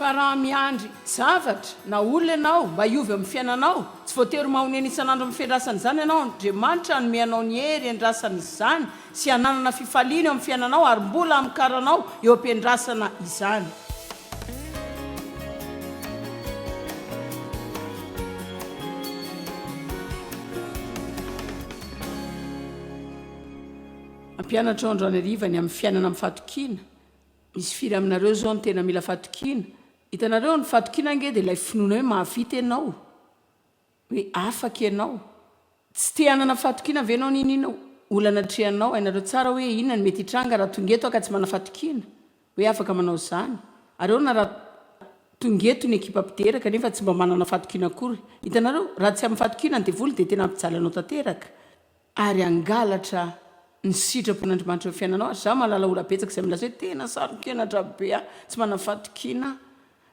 Fa raha miandry zavatra na olona ianao mba hiova amin'ny fiainanao, tsy voatery mahonena isan'andro amin'ny fiandrasana izany ianao. Andriamanitra hanome anao ny hery hiandrasana izany sy hananana fifaliana eo amin'ny fiainanao ary mbola hamokaranao eo am-piandrasana izany. Ampianatra ao androany hariva ny amin'ny fiainana amin'ny fahatokiana. Misy firy aminareo zao no tena mila fahatokiana? Hitanareo, ny fahatokiana ange dia ilay finoana hoe mahavita ianao. Hoe afaka ianao. Tsy te hanana fahatokiana ve ianao n'inon'inona olana atrehanao? Hainareo tsara hoe inona no mety hitranga raha tonga eto aho ka tsy manana fahatokiana hoe afaka manao izany. Ary ahoana raha tonga eto ny ekipa mpidera kanefa tsy mba manana fahatokiana akory? Hitanareo, raha tsy amin'ny fahatokiana ny devoly dia tena hampijaly anao tanteraka. ary hangalatra ny sitrapon'Andrimanitra eo fiainanao ary za mahalala ora betsaka izay milaza hoe tena saronkenatra be aho tsy manana fahatokiana aho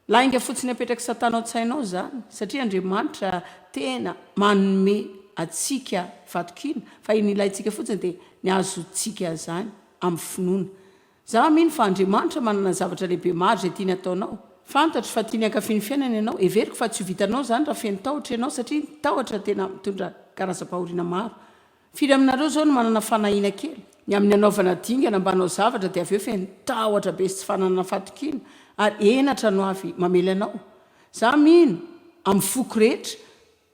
lainga fotsiny apetrak'i satana ao tsainao zany satria Andriamanitra tena manome atsika fahatokiana fa iny ilaintsika fotsiny dia ny azontsika zany amin'ny finoana Izaho mino fa Andriamanitra manana zavatra lehibe maro izay tiany hataonao. Fantatro fa tiany hankafy ny fiainana ianao. Heveriko fa tsy ho vitanao izany raha feno tahotra ianao, satria ny tahotra tena mitondra karazam-pahoriana maro. Firy aminareo izao no manana fanahiana kely? Ny amin'ny hanaovana dingana mba hanao zavatra dia avy eo feno tahotra be sy tsy fananana fahatokiana, ary henatra no avy mamely anao. Izaho mino, amin'ny foko rehetra,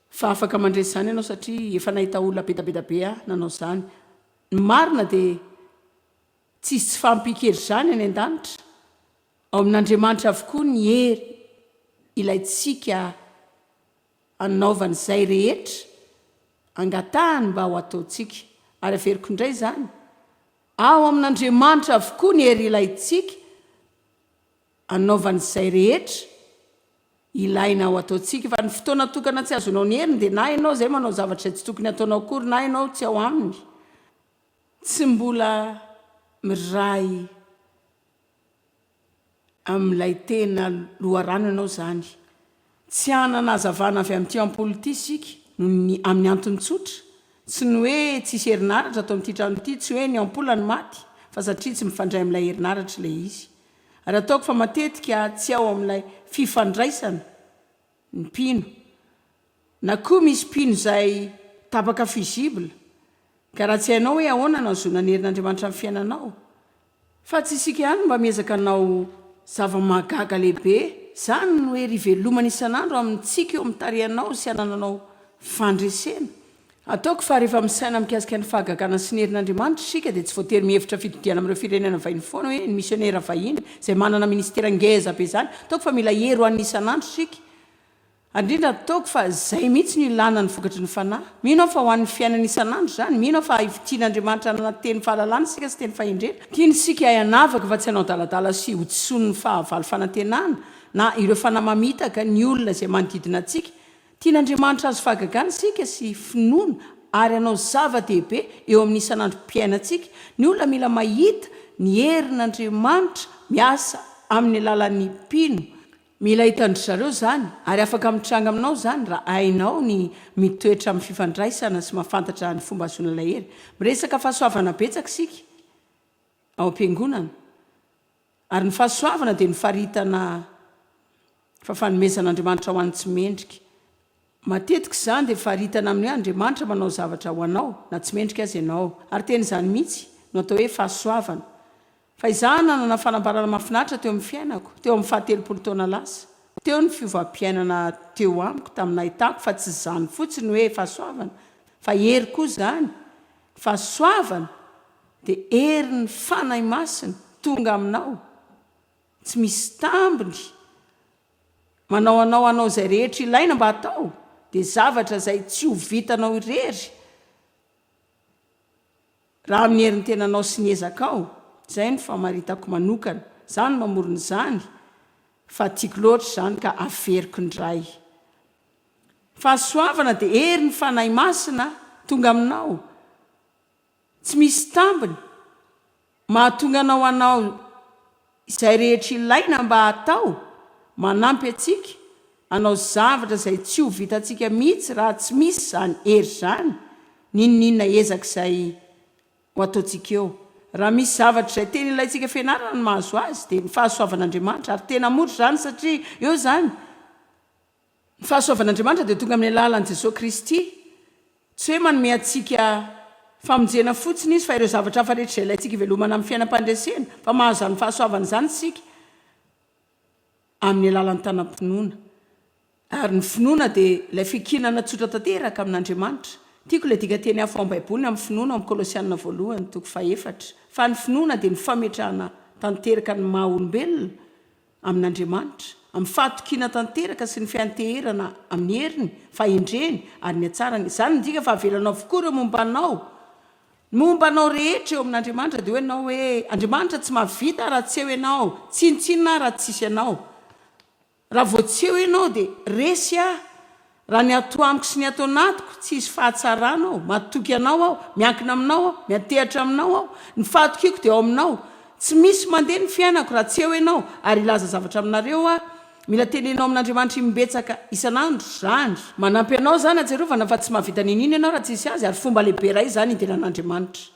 fa afaka mandresy izany ianao, satria efa nahita olona bedabeda be ahy nanao izany. Ny marina dia. Tsisy tsy fahampian-kery izany any an-danitra. Ao amin'Andriamanitra avokoa ny hery ilaintsika hanaovana izay rehetra angatahany mba ho ataontsika. Ary averiko indray izany, ao amin'Andriamanitra avokoa ny hery ilaintsika hanaovana izay rehetra ilaina ho ataontsika. Fa ny fotoana tokana tsy azonao ny heriny dia na ianao izay manao zavatra izay tsy tokony hataonao akory na ianao tsy ao aminy. Tsy mbola miray amin'ilay tena loharano ianao izany. Tsy hanana hazavana avy amin'ity ampola ity isika noho ny amin'ny antony tsotra, tsy ny hoe tsisy herinaratra ato amin'ity trano ity, tsy hoe ny ampola no maty, fa satria tsy mifandray amin'ilay herinaratra ilay izy. Ary ataoko fa matetika tsy ao amin'ilay fifandraisana. ny mpino, na koa misy mpino izay tapaka fusible, ka raha tsy hainao hoe ahoana no hahazoana ny herin'Andriamanitra amin'ny fiainanao, fa tsy isika ihany no mba miezaka hanao zava-mahagaga lehibe, izany no hery ivelomany isan'andro amintsika eo amin'ny tarehinao sy hanananao fandresena. Ataoko fa rehefa misaina mikasika ny fahagagana sy ny herin'Andriamanitra isika dia tsy voatery mihevitra fitodiana amin'ireo firenena vahiny foana hoe ny misionera vahiny izay manana ministera ngeza be izany ataoko fa mila hery ho an'ny isan'andro isika ary indrindra ataoko fa izay mihitsy no ilana ny vokatry ny fanahy mino aho fa ho an'ny fiainana isan'andro izany mino aho fa haivo tian'Andriamanitra hanana teny fahalalana isika sy teny fahendrena tiany isika hay hanavaka fa tsy hanao adaladala sy hodisoan'ny fahavalo fanantenana na ireo fanahy mamitaka ny olona izay manodidina antsika Tian'Andriamanitra hahazo fahagagana isika sy finoana ary hanao zava-dehibe eo amin'ny isan'androm-piainantsika. Ny olona mila mahita ny herin'Andriamanitra miasa amin'ny alalan'ny mpino. Mila hitan-dry zareo izany, ary afaka mitranga aminao izany raha hainao ny mitoetra amin'ny fifandraisana sy mahafantatra ny fomba hahazoana ilay hery. Miresaka fahasoavana betsaka isika ao am-piangonana. Ary ny fahasoavana dia ny faritana fa fanomezan'Andriamanitra ho an'ny tsy mendrika. Matetika izany dia faritana amin'ny hoe Andriamanitra manao zavatra ho anao na tsy mendrika aza ianao. Ary tena izany mihitsy no atao hoe fahasoavana. Fa izaho nanana fanambarana mahafinaritra teo amin'ny fiainako, teo amin'ny fahatelopolo taona lasa. Teo ny fiovam-piainana teo amiko tamin'ny nahitako fa tsy izany fotsiny hoe fahasoavana fa hery koa izany. Fahasoavana! Dia herin'ny Fanahy Masina tonga aminao, tsy misy tambiny, manao anao hanao izay rehetra ilaina mba hatao, dia zavatra izay tsy ho vitanao irery raha amin'ny herin'ny tenanao sy ny ezakao, izay no famaritako manokana, izaho no mamorona izany, fa tiako loatra izany ka averiko indray. Fahasoavana dia herin'ny Fanahy Masina tonga aminao. Tsy misy tambiny mahatonga anao hanao izay rehetra ilaina mba hatao, manampy antsika hanao zavatra izay tsy ho vitantsika mihitsy raha tsy misy izany hery izany, n'inon'inona ezaka izay ho ataontsika eo. Raha misy zavatra izay tena ilaintsika fianarana ny mahazo azy dia ny fahasoavan'Andriamanitra, ary tena mora izany satria eo izany, Ny fahasoavan'Andriamanitra dia tonga amin'ny alalan'i Jesoa Kristy. Tsy hoe manome antsika famonjena fotsiny Izy fa ireo zavatra hafa rehetra izay ilaintsika hivelomana amin'ny fiainam-pandresena, fa mahazo izany fahasoavana izany isika amin'ny alalan'ny tanam-pinoana. Ary ny finoana dia ilay fiankinana tsotra tanteraka amin'Andriamanitra. Tiako ilay dikanteny hafa ao amin'ny Baiboly ny amin'ny finoana ao amin'ny Kolosiana voalohany, toko fahefatra, fa ny finoana dia ny fametrahana tanteraka ny maha-olombelona, amin'Andriamanitra, amin'ny fahatokiana tanteraka sy ny fianteherana amin'ny heriny, fahendreny, ary ny hatsarany. Izany midika fa avelanao avokoa ireo momba anao, ny momba anao rehetra eo amin'Andriamanitra, dia hoy ianao hoe, Andriamanitra tsy mahavita raha tsy eo ianao, tsinontsinona aho raha tsisy ianao. Raha vao tsy eo ianao dia resy aho. Raha ny ato amiko sy ny ato anatiko, tsy hisy fahatsarana ao, matoky Anao aho, miankina Aminao aho, miantehatra Aminao aho, ny fahatokiako dia ao Aminao, tsy misy mandeha ny fiainako raha tsy eo Ianao, ary hilaza zavatra aminareo aho, mila teneno amin'Andriamanitra imbetsaka isan'andro izany. Manampy Anao izany ahatsiarovana fa tsy mahavita n'inona Ianao raha tsy hisy Azy, ary fomba lehibe iray izany hidiran'Andriamanitra.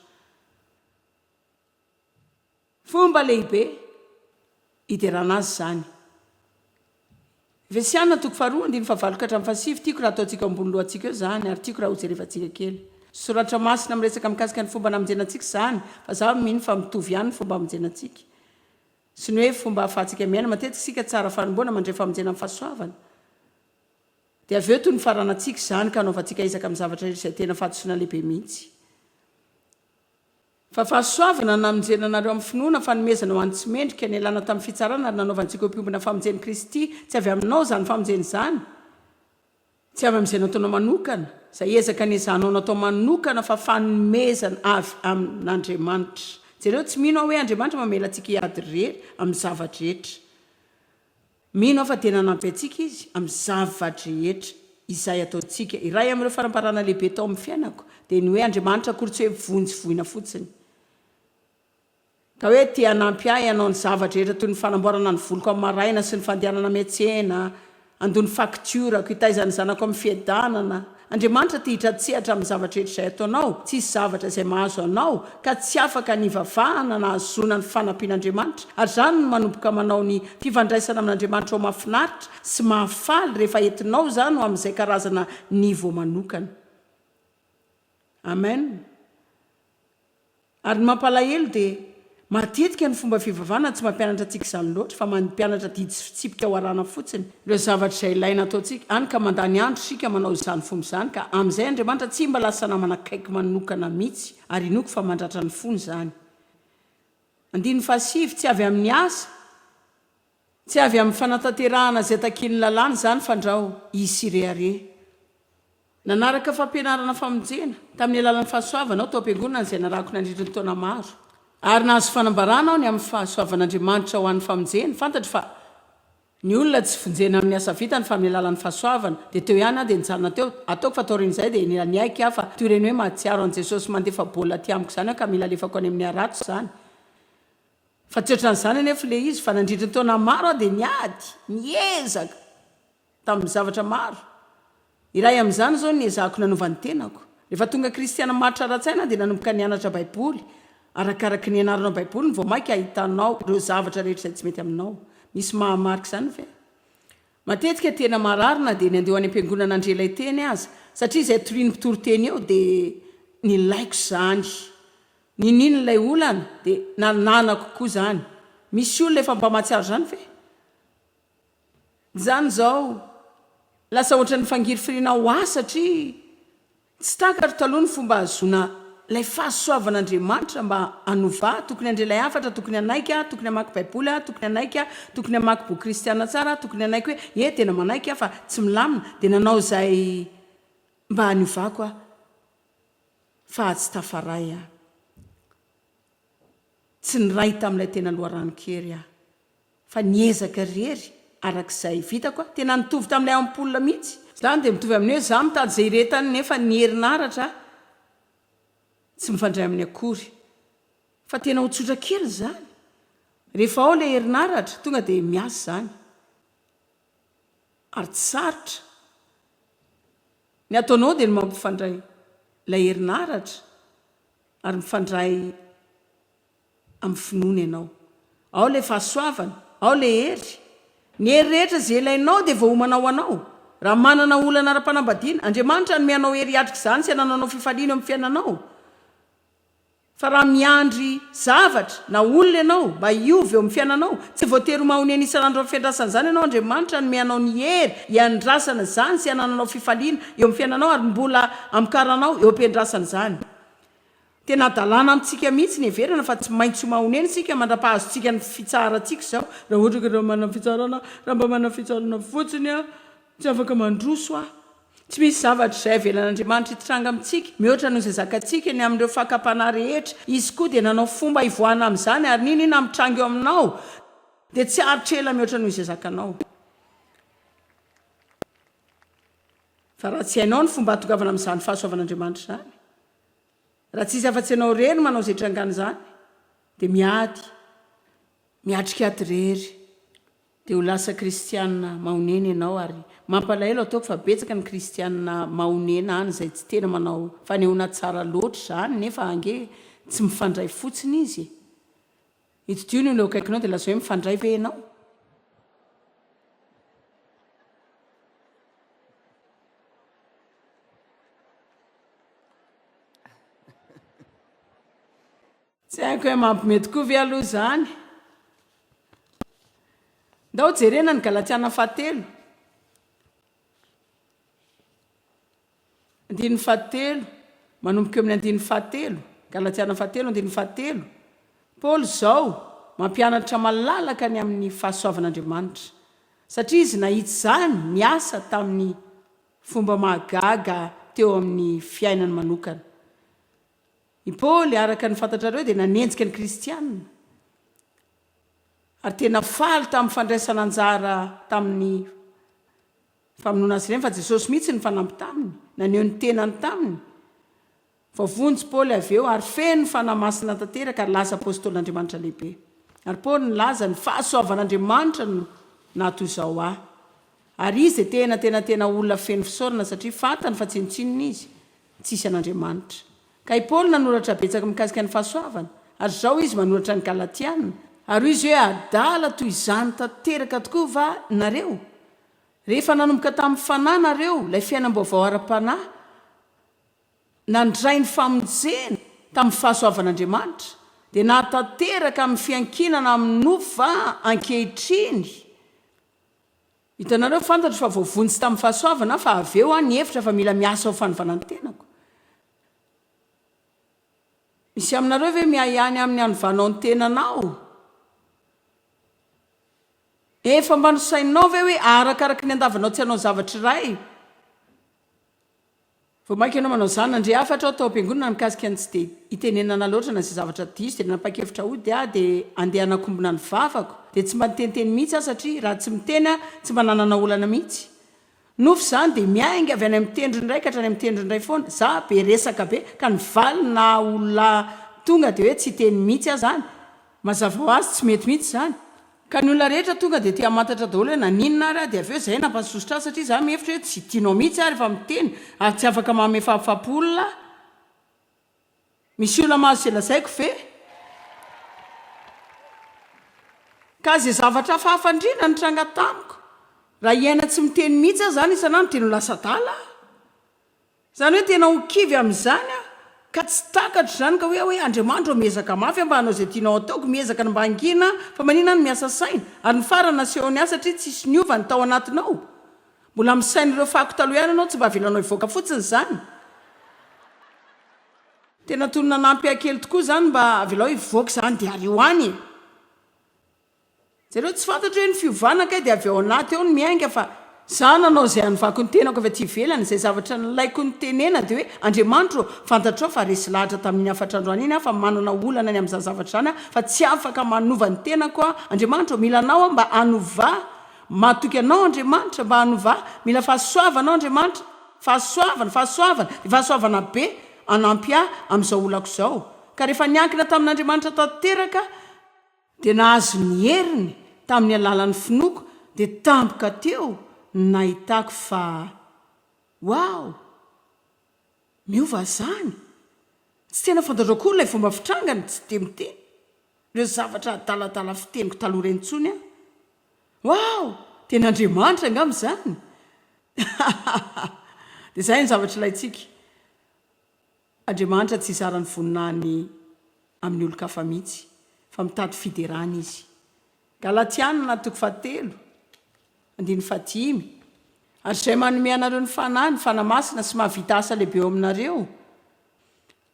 Fomba lehibe hiderana azy izany. Efesiana toko faharoa andininy fahavalo ka hatramin'ny fahasivy, tiako raha ataontsika eo ambony lohantsika eo izany ary tiako raha hojerevantsika kely. Soratra masina miresaka mikasika ny fomba namonjena antsika izany fa izaho mino fa mitovy ihany ny fomba hamonjena antsika sy ny hoe fomba ahafahantsika miaina matetika isika tsara fanomboana mandre famonjena amin'ny fahasoavana dia avy eo toy ny faranantsika izany ka hanaovantsika ezaka amin'ny zavatra rehetra izay tena fahadisoana lehibe mihitsy Fa fahasoavana ny namonjena anareo amin'ny finoana, fanomezana ho an'ny tsy mendrika, nialana tamin'ny fitsarana ary nanaovantsika ho mpiombona famonjen'i Kristy. Tsy avy aminao izany famonjena izany, tsy avy amin'izay nataonao manokana, izay ezaka niezahanao natao manokana, fa fanomezana avy amin'Andriamanitra. Jereo, tsy mino aho hoe Andriamanitra mamela antsika hiady irery amin'ny zava-drehetra. Mino aho fa dia nanampy antsika Izy amin'ny zava-drehetra izay ataontsika. Iray amin'ireo fanambarana lehibe tao amin'ny fiainako dia ny hoe Andriamanitra akory tsy hoe vonjy voina fotsiny, ka hoe te hanampy ahy hanao ny zava-drehetra toy ny fanamboarana ny voloko amin'ny maraina sy ny fandehanana miantsena, handoa ny faktiorako, hitaiza ny zanako amin'ny fiadanana, Andriamanitra te hitratsehatra amin'ny zavatra rehetra izay ataonao, tsisy zavatra izay mahazo anao ka tsy afaka ny hivavahana na hahazoana ny fanampian'Andriamanitra, ary izany no manomboka manao ny fifandraisana amin'Andriamanitra ho mafinaritra sy mahafaly rehefa entinao izany ho amin'izay karazana niveau manokana. Amen. Ary ny mampalahelo dia matetika ny fomba fivavahana no tsy mampianatra antsika izany loatra fa mampianatra didy sy fitsipika ho arahana fotsiny ireo zavatra izay ilaina ataontsika, hany ka mandany andro isika manao izany fomba izany ka amin'izay Andriamanitra tsy mba lasa namana akaiky manokana mihitsy ary inoako fa mandratra ny fony izany. Andininy fahasivy, Tsy avy amin'ny asa. Tsy avy amin'ny fanatanterahana izay takian'ny lalàna izany fandrao izy sy rehareha. Nanaraka fampianarana famonjena tamin'ny alalan'ny fahasoavana aho tao am-piangonana izay narahako nandritra ny taona maro. Ary nahazo fanambarana aho ny amin'ny fahasoavan'Andriamanitra ho an'ny famonjena, fantatro fa ny olona tsy vonjena amin'ny asa vitany fa amin'ny alalan'ny fahasoavana, dia teo ihany aho dia nijanona teo, ataoko fa taorian'izay dia niaiky aho fa toy ireny hoe mahatsiaro an'i Jesosy mandefa baolina aty amiko izany aho ka mila alefako any amin'ny harato izany. Fa tsy ohatran'izany anefa ilay izy, fa nandritra ny taona maro aho dia niady, niezaka, tamin'ny zavatra maro. Iray amin'izany izao no niezahako nanova ny tenako. Rehefa tonga kristiana maritra ara-tsaina aho dia nanomboka nianatra Baiboly. Arakaraky ny ianarana Baiboly ny vao mainka ahitanao ireo zavatra rehetra izay tsy mety aminao. Misy maha-marika izany ve? Matetika tena marary na dia ny handeha ho any am-piangonana handre ilay teny aza, satria izay torian'ny mpitory teny eo dia nilaiko izany. Niniana ilay olana dia nananako koa izany. Misy olona efa mba mahatsiaro izany ve? Izany izao lasa ohatran'ny fangirifiriana ho ahy satria tsy takatro taloha ny fomba ahazoana ilay fahasoavan'Andriamanitra mba hanova ahy. Tokony handre ilay hafatra, tokony hanaiky aho, tokony hamaky Baiboly aho, tokony hanaiky aho, tokony hamaky boky kristiana tsara aho, tokony hanaiky hoe ie tena manaiky aho fa tsy milamina, dia nanao izay mba haniovako aho. fa atsy Tafaray aho. Tsy niray tamin'ilay tena loharanon-kery aho fa niezaka irery araka izay vitako aho. Tena nitovy tamin'ilay ampoule mihitsy. Izany dia mitovy amin'ny hoe izaho mitady izay irehetany nefa ny herinaratra tsy mifandray aminy akory. Fa tena ho tsotra kely izany. Rehefa ao ilay herinaratra, tonga dia miasa izany. ary tsy sarotra, ny ataonao dia ny mampifandray ilay herinaratra ary mifandray amin'ny finoana ianao, ao ilay fahasoavana, ao ilay hery, ny hery rehetra izay ilainao dia voaomana ho anao, raha manana olana ara-panambadiana, Andriamanitra hanome anao hery hiatrika izany sy hanananao fifaliana eo amin'ny fiainanao. Fa raha miandry zavatra na olona ianao mba hiova eo amin'ny fiainanao, tsy voatery ho mahonena isan'andro amin'ny fiandrasana izany ianao, Andriamanitra hanome anao ny hery hiandrasana izany sy hanananao fifaliana eo amin'ny fiainanao ary mbola hamokaranao eo am-piandrasana izany. Tena hadalana amintsika mihitsy ny heverana fa tsy maintsy ho mahonena isika mandra-pahazontsika ny fitsaharantsika izao. Raha ohatra ka raha manana fitsarana aho, raha mba manana fitsarana fotsiny aho, tsy afaka mandroso aho. Tsy misy zavatra izay avelan'Andriamanitra hitranga amintsika mihoatra noho izay zakantsika ny amin'ireo fakam-panahy rehetra. Izy koa dia nanao fomba hivoahana amin'izany, ary n'inon'inona mitranga eo aminao dia tsy haharitra ela mihoatra noho izay zakanao. Fa raha tsy hainao ny fomba hahatongavana amin'izany fahasoavan'Andriamanitra izany, raha tsy hisy afa-tsy ianao irery no manao izay hitrangan'izany, dia miady. Miatrika ato irery dia ho lasa kristiana mahonena ianao ary mampalahelo ataoko fa betsaka ny kristiana mahonena any izay tsy tena manao fanehoana tsara loatra izany nefa ange tsy mifandray fotsiny izy e! Itdio ny olona eo akaikinao dia lazao hoe mifandray ve ianao? Tsy haiko hoe mampime tokoa ve aloha izany? Ndao jerena ny Galatiana fahatelo, andininy fahatelo, manomboka eo amin'ny andininy fahatelo, Galatiana fahatelo, andininy fahatelo. Paoly izao mampianatra malalaka ny amin'ny fahasoavan'Andriamanitra, satria izy nahitsy izany niasa tamin'ny fomba mahagaga teo amin'ny fiainany manokana. I Paoly, araka ny fantatrareo, dia nanenjika ny Kristianina, ary tena faly tamin'ny fandraisana anjara tamin'ny famonoana azy ireny, fa Jesosy mihitsy no fanampy taminy, naneho ny tenany taminy. Vao vonjy i Paoly avy eo, ary feno fanahy masina tanteraka, ary lasa apôstôlin'Andriamanitra lehibe. Ary Paoly nilaza, Ny fahasoavan'Andriamanitra no naha-toy izao ahy. Ary izy dia tena, tena, tena olona feno fisaorana, satria fantany fa tsinontsinona izy, Tsisy an'Andriamanitra. Ka i Paoly nanoratra betsaka mikasika ny fahasoavana, ary izao izy manoratra ny Galatiana, ary hoy izy hoe adala toy izany tanteraka tokoa va nareo, rehefa nanomboka tamin'ny Fanahy nareo ilay fiainam-baovao ara-panahy, nandray ny famonjena tamin'ny fahasoavan'Andriamanitra, dia nahatanteraka amin'ny fiankinana amin'ny nofo va ankehitriny? Hitanareo, fantatro fa voavonjy tamin'ny fahasoavana fa avy eo aho nihevitra fa mila miasa ho fanovana ny tenako. Misy aminareo ve miahiahy amin'ny hanovanao ny tenanao? Efa mba nosainao ve hoe arakaraky ny andavanao tsy hanao zavatra iray? Vao mainka ianao manao izany. Nandre hafatra aho tao am-piangonana mikasika ny tsy dia itenenana loatra na izay zavatra diso, dia nanapa-kevitra hody aho dia handeha hanakombona ny vavako. Dia tsy mba niteniteny mihitsy aho satria raha tsy miteny aho, tsy mba nanana olana mihitsy. Nofy izany dia miainga avy any amin'ny tendrony iray ka hatrany amin'ny tendrony iray foana. Izaho be resaka be ka ny valiny naha olona tonga dia hoe tsy hiteny mihitsy aho izany. Mazava ho azy tsy mety mihitsy izany. Ka ny olona rehetra tonga dia te hamantatra daholo hoe naninona ary aho dia avy eo izay nampahasosotra ahy satria izaho mihevitra hoe tsy tianao mihitsy aho rehefa miteny ary tsy afaka mamefapfapo olona aho. Misy olona mahazo izay lazaiko ve? Ka izay zavatra hafahafa indrindra nitranga tamiko, raha hiaina tsy miteny mihitsy aho izany isan'andro dia no lasa adala aho. Izany hoe tena ho kivy amin'izany aho ka tsy takatro izany ka hoe hoe Andriamanitro ô miezaka mafy aho mba hanao izay tianao hataoko, miezaka ny mba hangina aho fa manina aho no miasa saina ary ny farany nasehony aho satria tsisy niova ny tao anatinao, mbola amin'ny sain'ireo fako taloha ihany ianao tsy mba avelanao hivoaka fotsiny izany. Tena tony nanampy ahy kely tokoa izany mba avelao hivoaka izany dia ary ho any e! Jereo tsy fantatro hoe ny fiovana kay dia avy ao anaty ao no miainga fa za nanao izay hanovako ny tenako avy aty ivelany, izay zavatra nilaiko nitenena dia hoe Andriamanitro ô fantatrao fa resy lahatra tamin'iny hafatra androany iny aho fa manana olana ny amin'izany zavatra izany aho fa tsy afaka manova ny tenako aho Andriamanitro ô mila anao aho mba hanova matoky anao Andriamanitra mba hanova ahy mila fahasoavana aho Andriamanitra fahasoavana fahasoavana dia fahasoavana be hanampy ahy amin'izao olako izao ka rehefa niankina tamin'Andriamanitra tanteraka dia nahazo ny heriny tamin'ny alalan'ny finoako dia tampoka teo ny nahitako fa wow! miova izany! tsy tena fantatro akory ilay fomba fitrangany tsy dia miteny ireo zavatra adaladala fiteniko taloha ireny intsony aho wow! tena Andriamanitra angamba izany! hahahaha dia izay ny zavatra ilaintsika Andriamanitra tsy hizara ny voninahiny amin'ny olon-kafa mihitsy, fa mitady fiderana Izy. Galatiana toko fahatelo, andininy fahadimy, Ary izay manome anareo ny Fanahy, ny Fanahy Masina, sy mahavita asa lehibe eo aminareo,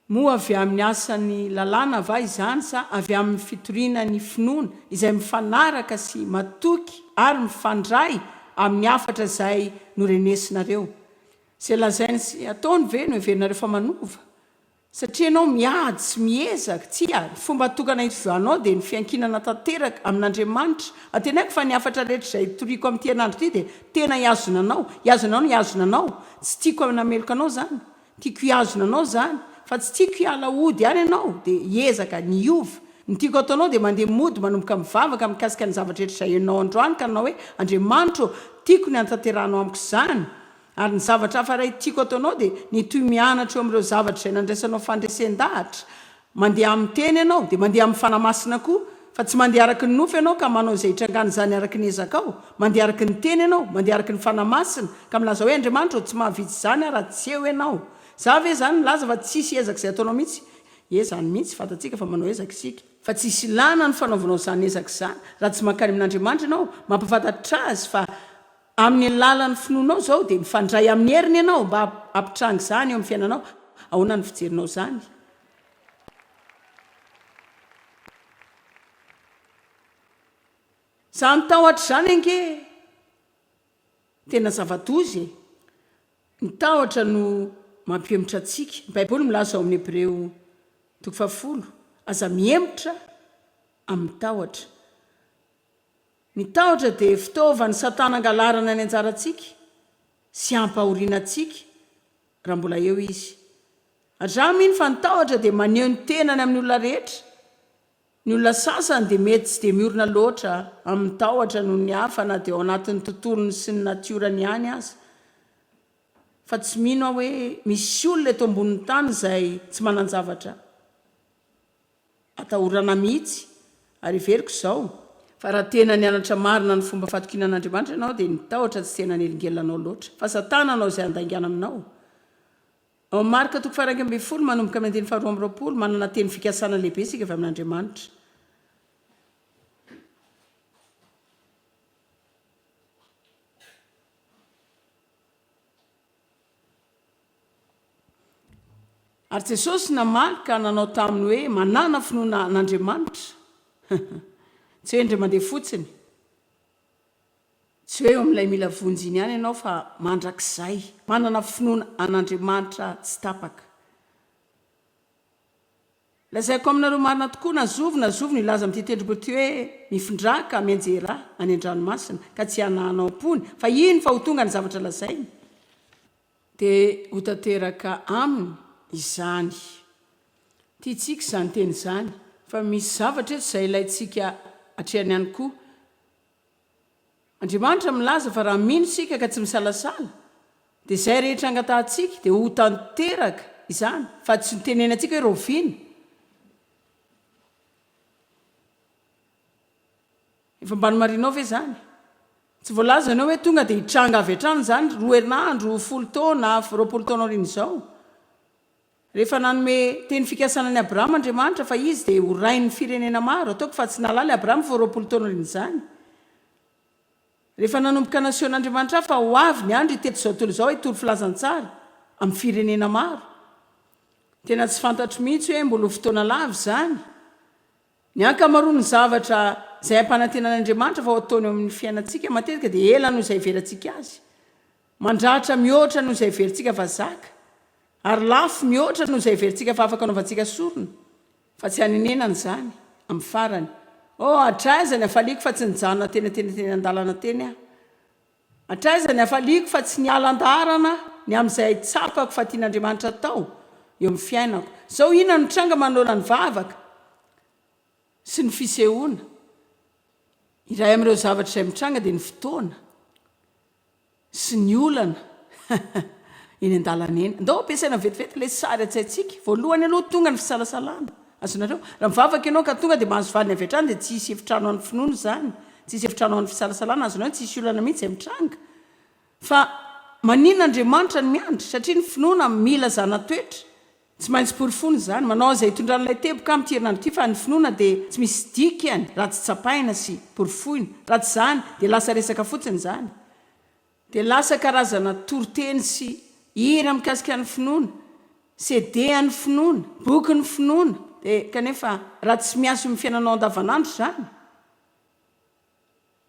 moa avy amin'ny asan'ny lalàna va izany sa avy amin'ny fitoriana ny finoana izay mifanaraka sy matoky ary mifandray amin'ny hafatra izay norenesinareo? Izay lazainy sy ataony ve no heverinareo fa manova? Satria ianao miady sy miezaka. Tsia, ny fomba hatokana itovianao dia ny fiankinana tanteraka amin'Andriamanitra. Antenaiko fa ny hafatra rehetra izay hitoriako amin'ity herinandro ity dia tena hihazona anao. Hihazona anao ny hihazona anao. Tsy tiako hanameloka anao izany. Tiako hihazona anao izany. Fa tsy tiako hiala hody any ianao. Dia hiezaka ny hiova. Ny tiako hataonao dia mandeha mody manomboka mivavaka mikasika ny zavatra rehetra izay henonao androany ka nanao hoe, Andriamanitra ô, tiako ny hanatanterahanao amiko izany. Ary ny zavatra hafa iray tiako ataonao dia ny toy mianatra eo amin'ireo zavatra izay nandraisanao fandresen-dahatra. Mandeha amin'ny Teny ianao, dia mandeha amin'ny Fanahy Masina koa. Fa tsy mandeha araka ny nofo ianao ka manao izay itrangan'izany araka ny ezakao. Mandeha araka ny Teny ianao, mandeha araka ny Fanahy Masina, ka milaza hoe, Andriamanitra ô, tsy mahavitsy izany aho raha tsy eo ianao. Za ve izany milaza fa tsy hisy ezaka izay ataonao mihitsy? Ie, izany mihitsy, fantatsika fa manao ezaka isika. Fa tsy hisy ilàna ny fanaovanao izany ezaka izany, raha tsy mankany amin'Andriamanitra ianao, mampahafantatra Azy fa. Amin'ny alalan'ny finoanao izao dia mifandray amin'ny heriny ianao mba hampitranga izany eo amin'ny fiainanao. Ahoana no fijerinao izany? Izany tahotra izany ange tena zava-doza e! Ny tahotra no mampihemotra antsika. Ny Baiboly milaza ao amin'ny Hebreo toko fahafolo, Aza mihemotra amin'ny tahotra. Ny tahotra dia fitaovan'i Satana hangalarana ny anjarantsika sy hampahoriana antsika raha mbola eo izy. Aza mino fa ny tahotra dia maneho ny tenany amin'ny olona rehetra. Ny olona sasany dia mety tsy dia miorina loatra amin'ny tahotra noho ny hafa na dia ao anatin'ny tontolony sy ny natiorany ihany aza. Fa tsy mino aho hoe misy olona eto ambonin'ny tany izay tsy manan-javatra. Atahorana mihitsy ary heveriko izao fa raha tena nianatra marina ny fomba fatokiana an'Andriamanitra ianao dia ny tahotra tsy tena hanelingelina anao loatra fa satana hanao izay handaingana aminao. Ao Marka toko faha-iraika ambin'ny folo manomboka amin'ny andininy faharoa amby roapolo, manana teny fikasana lehibe isika avy amin'Andriamanitra. Ary Jesosy namaly ka nanao taminy hoe, Manàna finoana an'Andriamanitra. Tsy hoe indray mandeha fotsiny. Tsy hoe eo amin'ilay mila vonjy iny ihany ianao fa mandrakizay. Manana finoana an'Andriamanitra tsy tapaka. Lazaiko aminareo marina tokoa, na zovy na zovy no hilaza amin'ity tendrombohitra ity hoe, Mifindrà ka mianjerà any an-dranomasina, ka tsy hananao am-pony, fa hino fa ho tonga ny zavatra lazainy. Dia ho tanteraka aminy izany. Tiantsika izany teny izany, fa misy zavatra eto izay ilaintsika hatrehana ihany koa. Andriamanitra milaza fa raha mino isika ka tsy misalasala, dia izay rehetra angatahantsika, dia ho tanteraka izany, fa tsy ho tenenantsika hoe rahoviana. Efa mba nomarinao ve izany? Tsy voalaza ianao hoe tonga dia hitranga avy hatrany izany roa herinandro, folo taona, roapolo taona aorian'izao. Rehefa nanome teny fikasana an'i Abrahama Andriamanitra fa izy dia ho rain'ny firenena maro, ataoko fa tsy nahalala i Abrahama vao roapolo taona aorian'izany. Rehefa nanomboka nasehon'Andriamanitra ahy fa ho avy ny andro hitety izao tontolo izao hitory filazantsara amin'ny firenena maro. Tena tsy fantatro mihitsy hoe mbola ho fotoana lava izany. Ny ankamaroan'ny zavatra izay ampanantenan'Andriamanitra fa ho ataony eo amin'ny fiainantsika, matetika dia ela noho izay ivelantsika azy, mandratra mihoatra noho izay heverintsika fa zaka, ary lafo mihoatra noho izay heverintsika fa afaka anaovantsika sorona. Fa tsy hanenenana izany, amin'ny farany. Oh, hatraiza ny hafaliako fa tsy nijanona teny an-teny teny an-dalana teny aho! Hatraiza ny hafaliako fa tsy niala an-daharana ny amin'izay tsapako fa tian'Andriamanitra atao eo amin'ny fiainako. Izao inona no tranga manohana ny vavaka sy ny fisehoana? Iray amin'ireo zavatra izay mitranga dia ny fotoana sy ny olana eny an-dalana eny. Andao ampiasaina vetivety ilay sary an-tsaintsika. Voalohany aloha tonga ny fisalasalana. Azonareo? Raha mivavaka ianao ka tonga dia mahazo valiny avy hatrany dia tsy hisy efitrano ho an'ny finoana izany, tsy hisy efitrano ho an'ny fisalasalana, azonao? Tsy hisy olana mihitsy izay mitranga. Fa maninona Andriamanitra no miandry? Satria ny finoana mila zana-toetra. Tsy maintsy porofoina izany. Manao an'izay itondran'ilay teboka amin'ity herinandro ity fa ny finoana dia tsy misy dikany raha tsy tsapaina sy porofoina. Raha tsy izany dia lasa resaka fotsiny izany. Dia lasa karazana toriteny sy hira mikasika ny finoana, CD an'ny finoana, bokin'ny finoana, dia kanefa raha tsy miasa eo amin'ny fiainanao andavanandro izany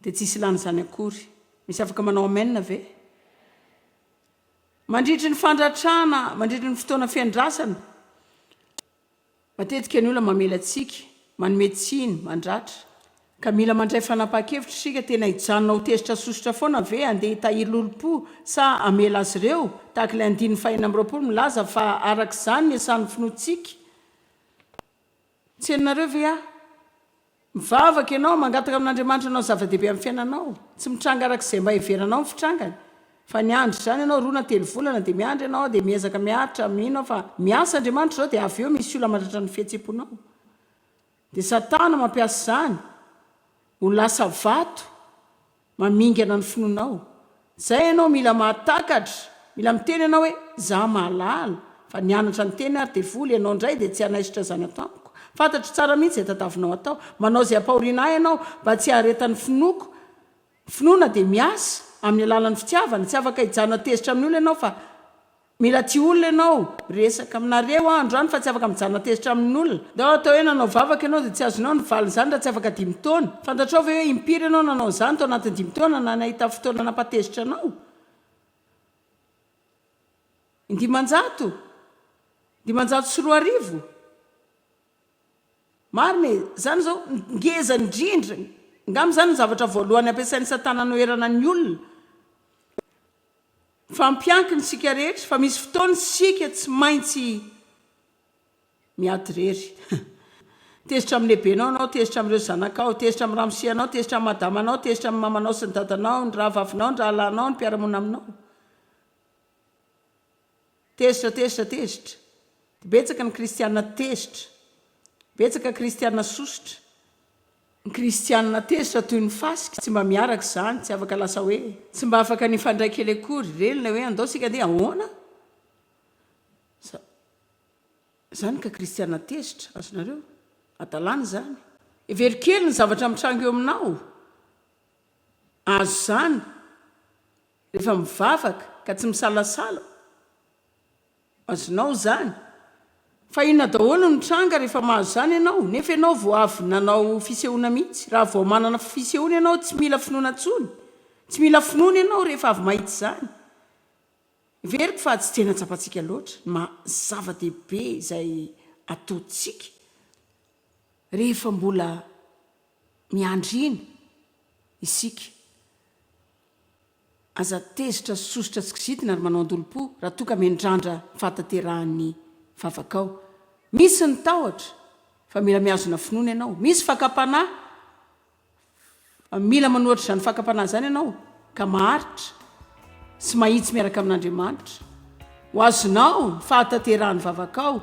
dia tsisy ilana izany akory. Misy afaka manao amen ve? Mandritry ny fandratrana, mandritry ny fotoana fiandrasana, Matetika ny olona mamela tsiky, manome tsiny, mandratra. Ka mila mandray fanapahan-kevitra isika, tena hijanona ho tezitra sy sosotra foana ve handeha hitahiry lolompo sa hamela azy ireo? Tahaka ilay andininy fahenina amby roapolo milaza fa araka izany ny asan'ny finoantsika. Tsy henonareo ve aho? Mivavaka ianao, mangataka amin'Andriamanitra hanao zava-dehibe amin'ny fiainanao. Tsy mitranga araka izay mba heveranao ny fitrangany. Fa niandry izany ianao roa na telo volana, dia miandry ianao, dia miezaka miaritra, mino aho fa miasa Andriamanitra izao, dia avy eo misy olona mandratra ny fihetsem-ponao. Dia Satana mampiasa izany ho lasa vato. Mamingana ny finoanao. Zay ianao mila mahatakatra, mila miteny ianao hoe za mahalala fa nianatra niteny ary devoly, ianao ndray dia tsy hanaisotra zana-tamiko. Fantatro tsara mihitsy zay tadavinao atao. Manao zay ampahoriana ahy ianao mba tsy haharetan'ny finoako. Ny finoana dia miasa amin'ny alalan'ny fitiavana. Tsy afaka hijanona tezitra amin'ny olona ianao fa. Mila tia olona ianao, resaka aminareo aho androany fa tsy afaka mijanona tezitra amin'olona. Ndao atao hoe nanao vavaka ianao dia tsy azonao ny valin'izany raha tsy afaka dimy taona. Fantatrao ve hoe impiry ianao nanao an'izany tao anatin'ny dimy taona na nahita fotoana nampatezitra anao? Indimanjato? Dimanjato sy roa arivo? Marina e! Izany izao ngeza indrindra, angamba izany no zavatra voalohany ampiasain'i Satana anoherana ny olona. Fa mpiankina isika rehetra fa misy fotoana isika tsy maintsy miady irery. Tezitra amin'ny lehibenao ianao, tezitra amin'ireo zanakao, tezitra amin'ny ramose anao, tezitra amin'ny madamanao, tezitra amin'ny mamanao sy ny dadanao, ny rahavavinao, ny rahalahinao, ny mpiara-monina aminao. Tezitra, tezitra, tezitra. Betsaka ny kristiana tezitra. Betsaka kristiana sosotra. Ny kristiana tezitra toy ny fasika tsy mba miaraka izany, tsy afaka lasa hoe. Tsy mba afaka ny hifandray kely akory. Reny ilay hoe andao isika andeha ahoana? Izany ka kristiana tezitra, azonareo? Hadalana izany. Hevero kely ny zavatra mitranga eo aminao. Azo izany. Rehefa mivavaka ka tsy misalasala, azonao izany. Fa inona daholo no tranga rehefa mahazo izany ianao, nefa ianao vao avy nanao fisehoana mihitsy? Raha vao manana fisehoana ianao, tsy mila finoana intsony. Tsy mila finoana ianao rehefa avy mahita izany. Heveriko fa tsy tena tsapantsika loatra ny maha zava-dehibe izay ataontsika rehefa mbola miandry iny isika. Aza tezitra sy sosotra tsy kizitina ry manao andolom-po raha toa ka mendrandra fahatanterahan'ny vavakao. Misy ny tahotra fa mila mihazona finoana ianao, misy fakam-panahy fa mila manohitra izany fakam-panahy izany ianao ka maharitra sy mahitsy miaraka amin'Andriamanitra. Ho azonao ny fahatanterahan'ny vavakao.